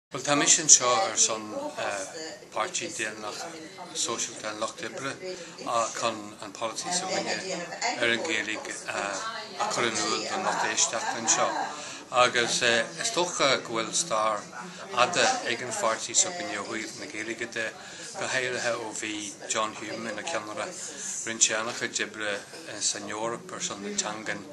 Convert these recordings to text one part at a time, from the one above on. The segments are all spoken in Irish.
Bhuel, tá mise anseo ar son Páirtí Daonlathach Sóisialta an Lucht Oibre chun an polasaí s'againne ar an Ghaeilge a chur in iúl don lucht éisteachta anseo. Agus is dócha go bhfuil stair fhada ag an pháirtí s'againne ó thaobh na Gaeilge de, go háirithe ó bhí John Hume ina cheannaire rinne sé an-chuid oibre san Eoraip ar son na teanga.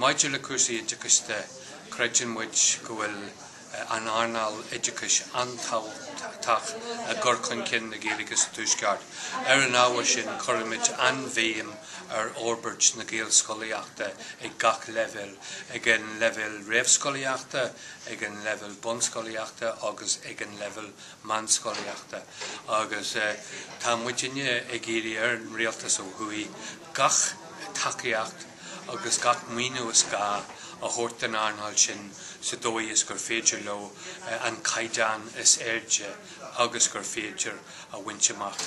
Maidir le cúrsaí oideachais de, creideann muid go bhfuil an earnáil oideachais an-tábhachtach i gcur chun cinn na Gaeilge sa Tuaisceart. Ar an ábhar sin, cuirimid an-bhéim ar fhorbairt na Gaelscolaíochta ag gach leibhéal, ag an leibhéal réamhscolaíochta, ag an leibhéal bunscolaíochta agus ag an leibhéal meánscolaíochta agus tá muidinne ag iarraidh ar an Rialtas ó thuaidh gach tacaíocht agus gach maoiniú is gá a thabhairt don earnáil sin sa dóigh is gur féidir leo an caighdeán is airde agus gur féidir a bhaint amach.